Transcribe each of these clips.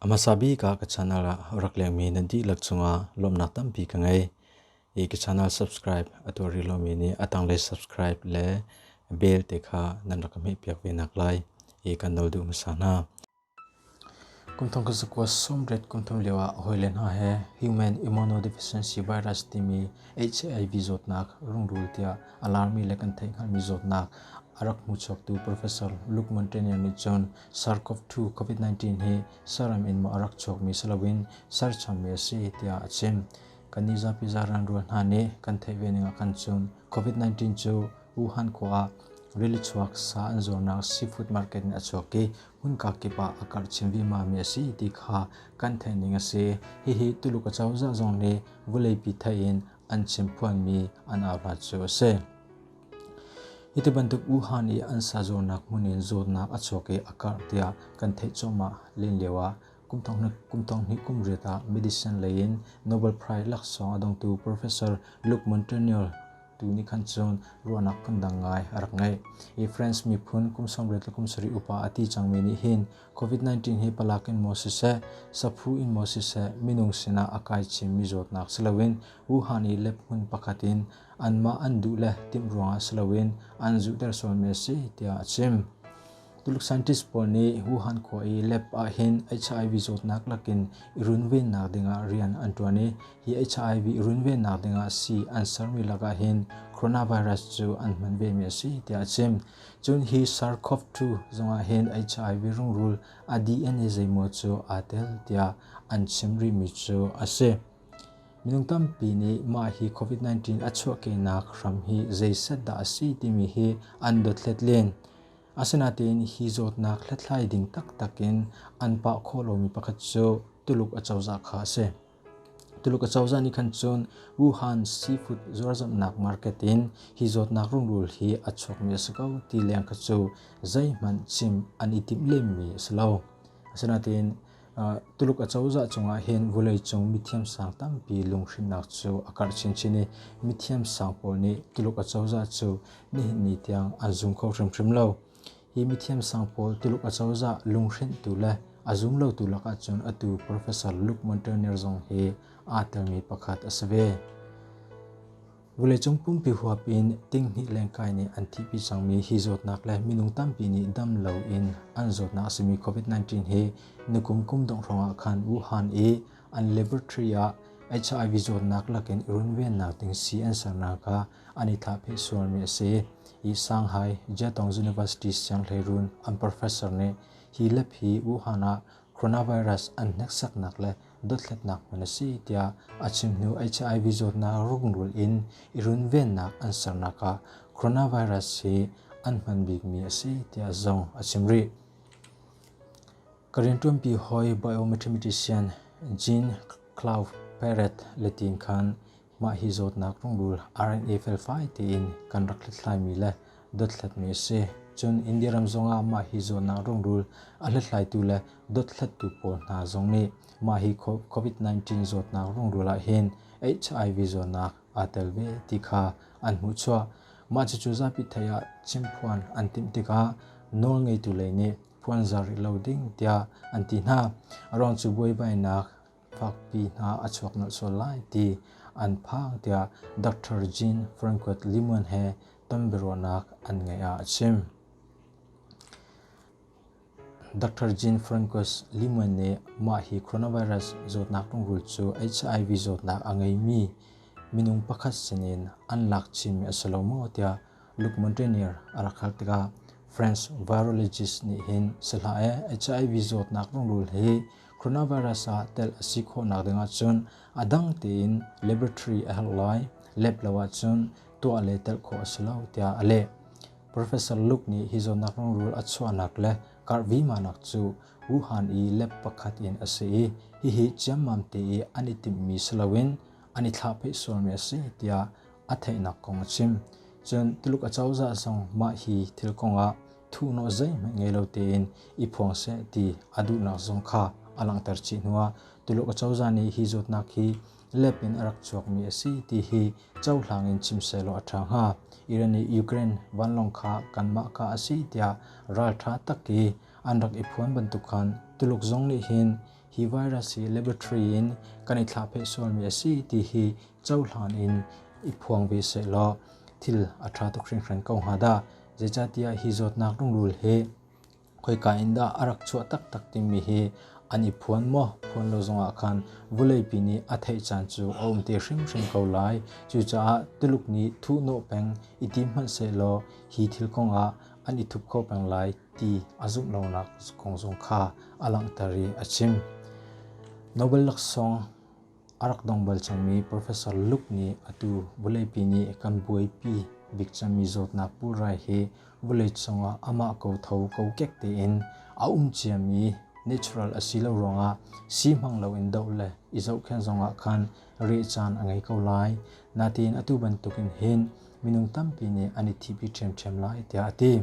A hmasa bik ah ka channel ah rak lengmi nan dihlak cungah lawmnak tampi ka ngei. I ka channel subscribe a tuar rih lomi nih a tanglei subscribe le bell te kha nan rak ka hmehpiak ve nak lai i kan no duh hmasa hna. Kumthum ka zakua sawmriat kumthum lioah a hawile hna he Human Immunodeficiency Virus timi HAIV zawtnak rungrul tiah alarmi le kan theih hngalhmi zawtnak a rak hmuchuaktu Professor Lukman Tenier nih cun SARS-CoV-2 COVID-19 hi saram in maw a rak chuakmi si loin serchammi a si tiah a chim. Kannih zapi zaran rual hna nih kan theih ve ningah khan cun COVID-19 cu Wuhan khua ah rili chuak sa an zuarnak seafood market in a chuak i hmunka kip ah a karh chin vimami a si ti kha kan theih ning a si. Hihi Tuluk acozah zong nih vuleipi theih in an chim phuanmi an auhlat cu a si. Hiti bantuk Wuhan i an sazuarnak hmun in zawtnak a chuak i a karh tiah kan theih cuahmah len lio ah Kumthonghnih kum riat ah medicine lei in Nobel Prize laksawng a dongtu Professor Luke Montaigne tu nih khan cun ruahnak kan dang ngai a rak ngeih. Hi France miphun kum sawmriat le kum sarih upa a ti cangmi nih hin COVID-19 hi palak in maw siseh, saphu in maw siseh minung sinah a kai chinmi zawtnak si loin Wuhan i lab hmun pakhat in anmah an duh le timh ruangah si loin an zuhter sualmi a si tiah a chim. Tuluk scientist pawl nih Wuhan khua i lab ah hin HIV zawtnak lakin i runvennak dingah rian an ṭuan i hi HIV i runvennak dingah sii an sermi lakah hin coronavirus cu an hman vemi a si tiah a chim. Cun hi SARS-CoV-2 zongah hin HIV rungrul a DNA zeimaw cu aa tel tiah an chim rihmi cu a si. Minung tampi nih mah hi COVID-19 a chuahkehnak hram hi zei set dah a si timi hi an dothlet len. Asinain hi zawtnak hlathlai ding taktak in an pah khawh lomi pakhat cu Tuluk acozah kha a si. Tuluk acozah nih khan cun Wuhan seafood zuarzamhnak market in hi zawtnak rungrul hi a chuakmi a si ko ti leng kha cu zeihmanh chim an i timh lemmi a si lo. Asinain Tuluk acozah cungah hin vawleicung mithiamsang tampi lunghrinhnak cu a karh chinchin i mithiamsang pawl nih Tuluk acozah cu nihin ni tiang an zum kho hrimhrim lo. Hi mithiamsang pawl Tuluk acozah lunghrinhtu le a zum lotu lakah cun atu Professor Luke Montagnier zong hi aa telmi pakhat a si ve. Vawleicung pumpi huap in tinghnih lengkai nih an thihpi cangmi hi zawtnak le minung tampi nih dam lo in an zawtnak a simi COVID-19 hi nikum kum dongh hrawngah khan Wuhan i an laboratory ah HIV zawtnak lakin runvennak ding si an sernak kha an i thlahphe sualmi a si. Hi Shanghai Jetong University sianghlei run an professor nih hi lep hi Wuhan ah Coronavirus an hneksaknak le dothlatnak hmun a si tiah a chim hnu HIV zawtnak rungrul in i runvennak an sernak ah coronavirus hi an hman bikmi a si tiah zong a chim rih. Ka rian ṭuanpi hawi biometrician Jean Claude Perret le tin khan Mah hi zawtnak rungrul RNA felfai tein kan rak hlathlaimi le dothlatmi a si. Cun India ram zongah mah hi zawtnak rungrul a hlathlaitu le dothlattu pawl hna zong nih mah hi COVID-19 zawtnak rungrul ah hin HIV zawtnak aa tel ve ti kha an hmuhchuah. Mah cucu zapi thei ah chimphuan an timh tikah nawlngeitu lei nih puanzar i lo ding tiah an ti hna. A ruang cu buaibainak fakpi hna a chuak nolh sual lai ti an phang tiah Dr. Jean Franquet Limuan he tonbiaruahnak an ngeih ah a chim. Dr. Jean Franquet Limuan nih mah hi coronavirus zawtnak rungrul cu HIV zawtnak a ngeimi minung pakhat sinin an lak chinmi a si lo maw tiah Luke Montanier a rak hal tikah French virologist nih hin sihla e HIV zawtnak rungrul hi coronavirus ah tel a si khawhnak dingah cun a dang tein laboratory a herh lai lep lo ahcun tuah le telh khawh a si lo tiah a leh. Professor Luke nih hi zawtnak rungrul a chuahnak le karhvimanak cu Wuhan i lab pakhat in a si i hihi ciammam te i an i timhmi si loin an i thlahpheih sualmi a si tiah a theihnak kong a chim. Cun Tuluk acozah zong mah hi thil kongah thuhnawl zeihmanh ngei lo tein i phuang seh ti a duhnak zong kha a langhter chih hnu ah Tuluk acozah nih hi zawtnak hi lep in a rak chuakmi a si ti hi cohlang in chim sehlaw a ṭha hnga. Iran i Ukraine vanlawng kha kanmah ka a si tiah ralṭha tak i an rak i phuan bantuk khan Tuluk zong nih hin hi virus hi laboratory in kan i thlahpheh sualmi a si ti hi cohlan in i phuang ve sehlaw thil a ṭha tuk hringhran ko hnga dah. Zeicahtiah hi zawtnak rungrul hi khoika in dah a rak chuah taktak timi hi an i phuan maw phuan lo zongah khan vuleipi nih a theih caan cu a um te hrimhrim ko lai. Cucaah Tuluk nih thuhnawh peng i tim hmanhsehlaw hi thil kongah an i thup kho peng lai ti a zumh lonak kong zong kha a langhter i a chim. Nobel laksawng A rak dong bal cangmi Professor Luke nih atu vawleipi nih kan buaipi bik cangmi zawtnak pulrai hi vawlei cungah amah kotho kokek tein a um ciami natural a si lo ruangah si hmang loin doh le i zohkhenh zongah khan reh caan a ngei ko lai. Nain atu bantukin hin minung tampi nih an i thipi ṭhiamṭhiam lai tiah a ti.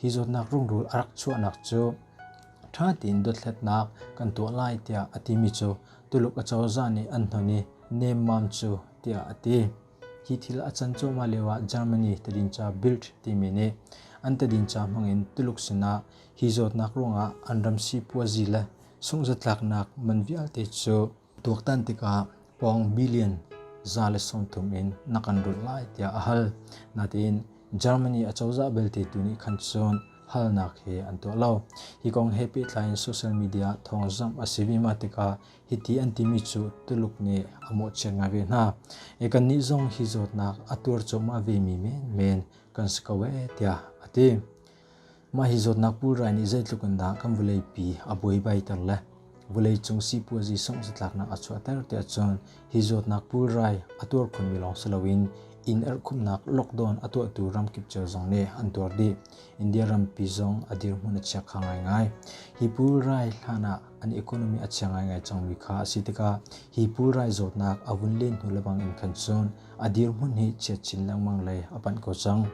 Hi zawtnak rungrul a rak chuahnak cu ṭha tein dothlatnak kan tuah lai tiah a timi cu Tuluk acozah nih an hnon i nemmam cu tiah a ti. Hi thil a can cuahmah lioah Germany tadinca Bild timi nih an tadinca hmangin Tuluk sinah hi zawtnak ruangah an ram sipuazi le sunghzatlaknak man vialte cu Tuaktan tikah pawng billion za le sawmthum in na kan lut lai tiah a hal. Nain Germany acozah belte tu nih khan cun halnak he an tuah lo. Hi kong he pehtlai in social media thawngzamh a si vima tikah hiti an timi cu Tuluk nih a mawhchiat ngai ve hna. E kannih zong hi zawtnak a tuar cuahmah vemi menmen kan si ko ee tiah a ti. Mah hi zawtnak pulrai nih zeitluk in dah kan vawleipi a buaibaiter le vawleicung sipuazi sungh-zatlaknak a chuahter tiah cun hi zawtnak pulrai a tuar khunmi lawng si loin inn erhkhumhnak lockdown a tuahtu ramkip cio zong nih an tuar dih. India rampi zong a dirhmun a chia kha ngaingai. Hi pulrai hlan ah an economy a chia ngaingai cangmi kha a si tikah hi pulrai zawtnak a vun len hnu lebang in khan cun a dirhmun hi chiat chin lengmang lei a panh ko cang.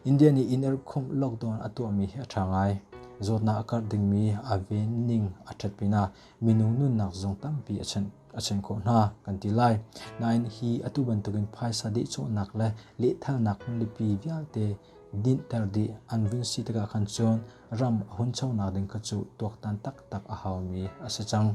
India nih inn a rukkhumh lockdown a tuahmi hi a ṭha ngai. Zawtnak a karh dingmi a ven ning a ṭhat pinah minung nunnak zong tampi a chanh a chanh khawh hna kan ti lai. Nain hi atu bantukin phaisa dehcawhnak le lehthalnak hmunlipi vialte dinhter dih an vun si tikah khan cun ram a hunchonak ding kha cu tuaktan taktak a haumi a si cang.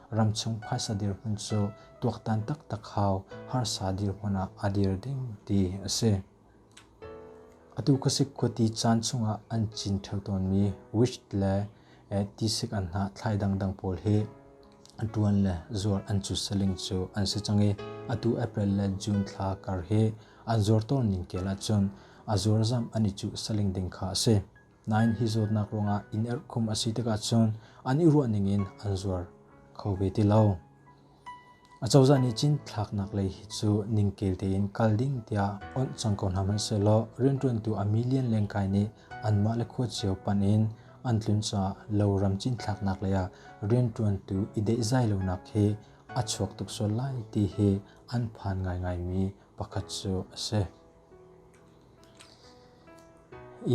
ramchung phaisa dirhmun cu tuaktan taktak hau harsa dirhmun ah a dir ding ti a si. Atu khasik khuati caan chungah an cin theo tawnmi witch le tisik an hna thlai dangdang pawl hi ṭuan le zuar an cu saling cu an si cang i atu April le June thla kar hi an zuar tawn ning tial ahcun a zuarzamh an i cuh saling ding kha a si. Nain hi zawtnak ruangah inn erhkhum a si tikah cun an i ruahning in an zuar kho ve ti lo. Acozah nih Chin thlaknak lei hi cu ningkel tein kal ding tiah awnh cang ko hna hmanhsehlaw rianṭuantu a million lengkai nih anmah le khua cio pan in an tlun caah loram Chin thlaknak lei ah rianṭuantu i dehzai lonak hi a chuak tuk sual lai ti hi an phan ngaingaimi pakhat cu a si.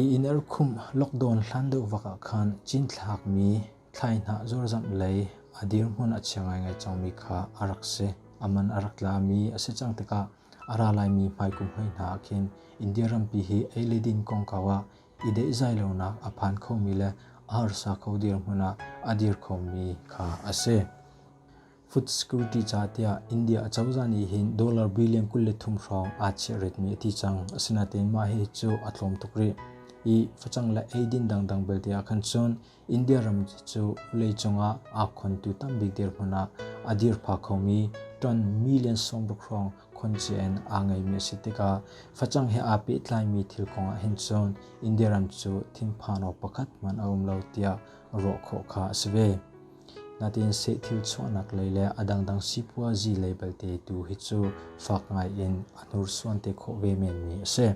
Ii inn arkhumh lockdown hlan deuh vak ah khan cinthlakmi thlaihnah zurzamh lei a dirhmun a chia ngaingai cangmi kha a rak si. A man a rak tlami a si cang tikah a ra laimi hmaikum hlei hna ah khin India rampi hi ei le din kongkau ah i deihzai lonak a phan khomi le a harsa kho dirhmun ah a dir khomi kha a si. Food security ca tiah India acozah nih hin dollar billion kul le thum hrawng aa chiahretmi a ti cang. Asinain mah hi cu a tlawm tuk rih. I facang le eidin dangdang belte ah khan cun India ram cu vawleicung ah aa khontu tambik dirhmun ah a dirpha khomi ton million sawmruk hrawng khoncian aa ngeimi a si tikah facang he aa pehtlaimi thil kong ah hin cun India ram cu thinphan awk pakhat hmanh a um lo tiah ruah khawh kha a si ve. Natin seh thil chuahnak lei le a dangdang sipuazi lei belte tu hi cu fak ngai in a hnursuan te khawh ve menmi a si.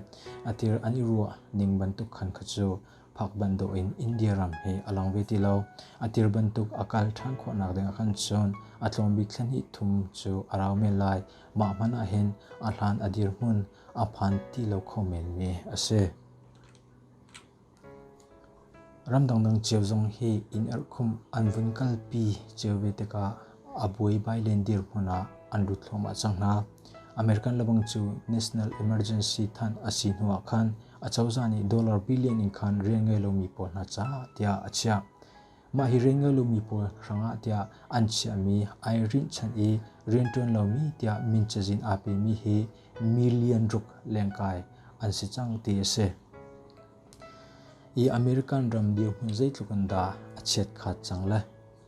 A tir an i ruah ning bantuk khan kha cu phak bantuk in India ram hi a lang ve ti lo. A tir bantuk a kal ṭhan khawhnak ding ah khan cun a tlawmbik thlen hi thum cu a rau men lai. Mah hmanh ah hin a hlan a dirhmun a phan ti lo kho menmi a si. Ram dangdang cio zong hi inn erhkhumh an vun kalpi cio ve tikah a buaibai len dirhmun ah an lut thluahmah cang hna. American lebang cu national emergency thanh a si hnuah khan a cozah nih dollar billion in khan rian ngei lomi pawl hna caah tiah a chiah. Mah hi Rengalumi pawl hrangah tiah an chiahmi ai rinhchan i rianṭuan lomi tiah min cazin aa pemi hi million ruk lengkai an si cang ti a si. I American ram dirhmun zeitluk in dah a chiat khat cang le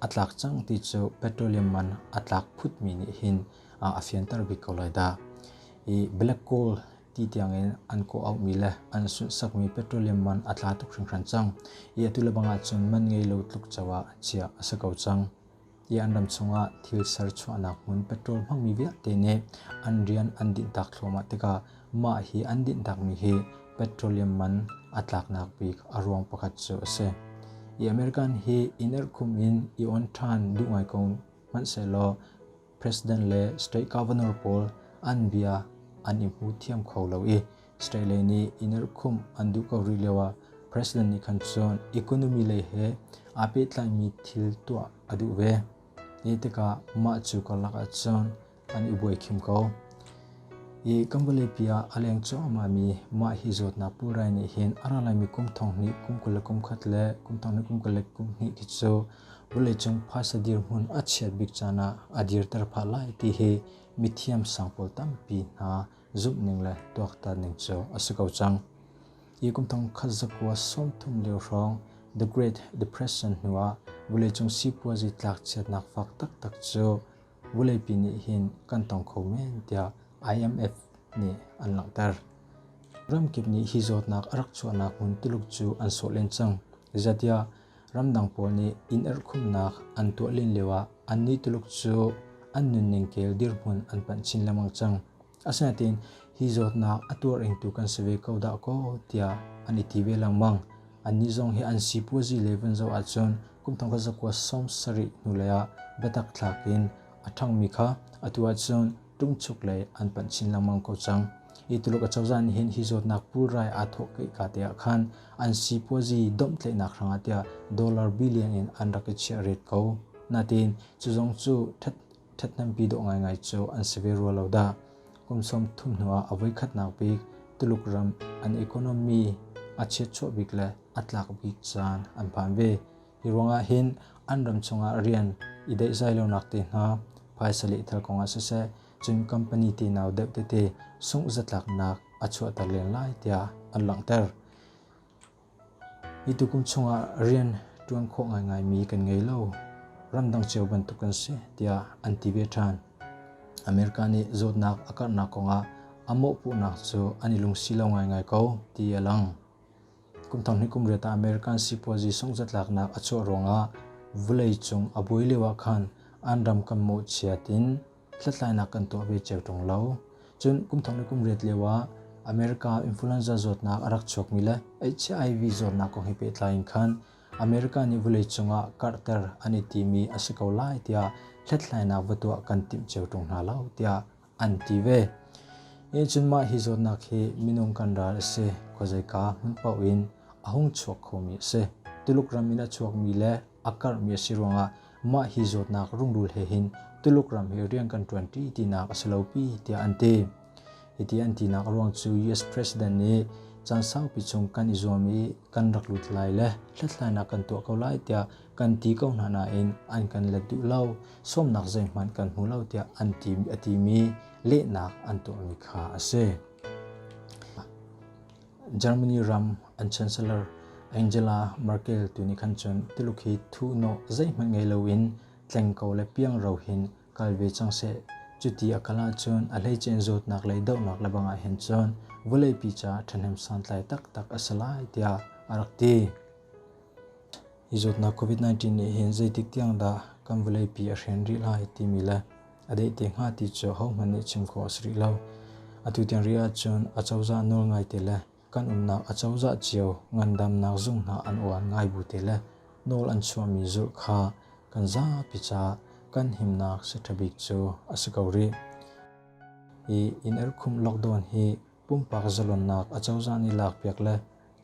a tlak cang ti cu petroleum man a tlak phutmi nih hin a fianter bik ko lai dah. I black coal ti tiangin an kawh auhmi le an sunhsakmi petroleum man a tla tuk hringhran cang i atu le bang ahcun man ngei lo tluk co ah chiah a si ko cang i an ram chungah thil ser chuahnak hmun petrol hmangmi vialte nih an rian an dinhtak thluahmah tikah mah hi an dinhtakmi hi petroleum man a tlaknak bik a ruang pakhat cu a si i american hi in erhkhum in i on ṭhan duh ngai ko hmanhsehlaw President le state governor pawl an bia an i hmu thiam kho lo i state lei nih i nirhkhumh an duh ko rih lio ah president nih khan cun economy lei he aa pehtlaimi thil tuah a duh ve. Hi tikah mah cu karlak ah cun an i buaikhim ko. I kan vawleipi ah a leng cuahmahmi mah hi zawtnak purai nih hin a ra laimi kum thong hnih kum kul le kum khat le kum thong hnih kum kul le kum hnih khi cu vawleicung phaisa dirhmun a chiat bik caan ah a dirter phah lai ti hi mithiam sang pawl tampi hna zumhning le tuaktan ning cu a si ko cang. Hi kum thong khat zakua sawmthum lio hrawng The Great Depression hnu ah vawleicung sipuazi tlakchiatnak fak taktak cu vawleipi nih hin kan tong kho men tiah IMF nih an langhter. Ramkip nih hi zawtnak a rak chuahnak hmun tiluk cu an sawh len cang. Zeitiah Ramdang pawl nih inn erhkhumhnak an tuah len lioah annih Tuluk cu an nunning kel dirhmun an panh chin lengmang cang. Asinain hi zawtnak a tuarengtu kan si ve ko dah kaw tiah an i ti ve lengmang. Annih zong hi an sipuazi le vun zoh ahcun kumthong kazakua sawm sarih hnu leiah biatak thlak in a ṭhangmi kha atu ahcun ṭungchuk le an panh chin lengmang ko cang. Hi Tuluk acozah nih hin hi zawtnak pulrai aa thawhkaih ka te ah khan an sipuazi domhtleihnak hrangah tiah dollar billion in an rak i chiah ret ko. Natin cu zong cu ṭhat ṭhathnempi dawh ngaingai cu an si ve rua lo dah. Kum sawm thum hnuah a voikhatnak bik Tuluk ram an economy a chiatchuah bik le a tlak bik caan an phan ve. Hi ruangah hin an ram chungah rian i deihzai lonak te hna phaisa lehthal kongah siseh cun company tenau deuh tete sungh zatlaknak a chuahter len lai tiah an langhter. Hi tukum chungah rian ṭuan khawh ngaingaimi kan ngei lo. Ramdang cio bantuk kan si tiah an ti ve ṭhan. America nih zawtnak a karhnak kongah a mawhpuhnak cu an i lungsi lo ngaingai ko ti a lang. Kum tam hnih kum riat ah American sipuazi sungzatlaknak a chuah ruangah vawleicung a buai lio ah khan an ram kan mawhchiat in hlathlainak kan tuah ve cio ṭung lo. Cun kum thong le kum riat lio ah America influenza zawtnak a rak chuakmi le HIV zawtnak kong he pehtlai in khan America nih vawleicung ah karhter an i timi a si ko lai tiah hlathlainak va tuah kan timh cio ṭung hna lo tiah an ti ve. Ih cun mah hi zawtnak hi minung kan ral a si. Khuazeika hmun paoh in a hung chuak khomi a si. Tuluk ram in a chuakmi le a karhmi a si ruangah mah hi zawtnak rungrul he hin Tuluk ram hi rian kan ṭuanṭi tinak a si lopi tiah an ti. Hiti an tinak a ruang cu US President nih caan saupi chung kan i zuam i kan rak lut lai le hlathlainak kan tuah ko lai tiah kan ti ko hna nain an kan let duh lo sawmnak zeihmanh kan hmu lo tiah an ti a timi lehnak an tuahmi kha a si. Germany ram an chancellor Angela Merkel tu nih khan cun tiluk hi thu no zeihmanh ngei loin tleng ko le piang rohin kal ve cang seh cuti a kal ahcun a hleicein zawtnak lei dohnak le bangah hin cun vawleipi ca ṭhahnem santlai taktak a si lai tiah a rak ti. i zawtnak COVID-19 nih hin zeitik tiang dah kan vawleipi a hren rih lai timi le a deh te hnga ti cu hohmanh nih chim khawh a si rih lo. Atu tiang rih ahcun acozah nawl ngaite le kan umnak acozah cio ngandamnak zung hna an uan ngai bu te le nawl an chuahmi zulh kha kan zapi caah kan himnak si ṭha bik cu a si ko rih. Hi in erkhumh lockdown hi pumpak zalonnak acozah nih lakpiak le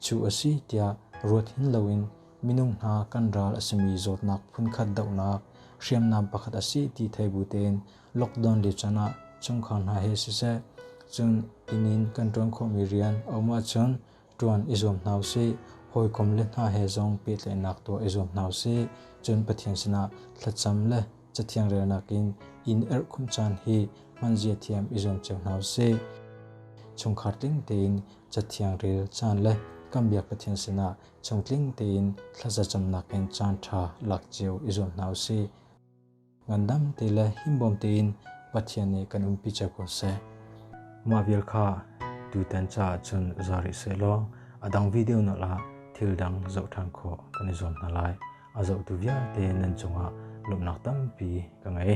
Cu a si tiah ruat hin loin minung hna kan ral a simi zawtnak phunkhat dohnak hriamnam pakhat a si ti thei bu tein lockdown le chan ah chungkhar hna he siseh cun inn in kan ṭuan khawhmi rian a um ahcun ṭuan i zuam hna usih hawikom le hna he zong pehtlaihnak tuah i zuam hna usih cun Pathian sinah thlacam le cathiang relnak in in erhkhum caan hi hman zia thiam i zuam cio hna usih chungkhar tling tein Cathiang rel caan le kan biak Pathian sinah chungtling tein thlazacamnak in caan ṭha lak cio i zuam hna u sih. Ngandam te le himbawm tein Pathian nih kan umpi cio ko seh. Mah vial kha tutan caah cun za rih seh law a dang video na la thil dang zoh ṭhan khawh kan i zuam hna lai. A zohtu vialte nan cungah lawmhnak tampi ka ngei.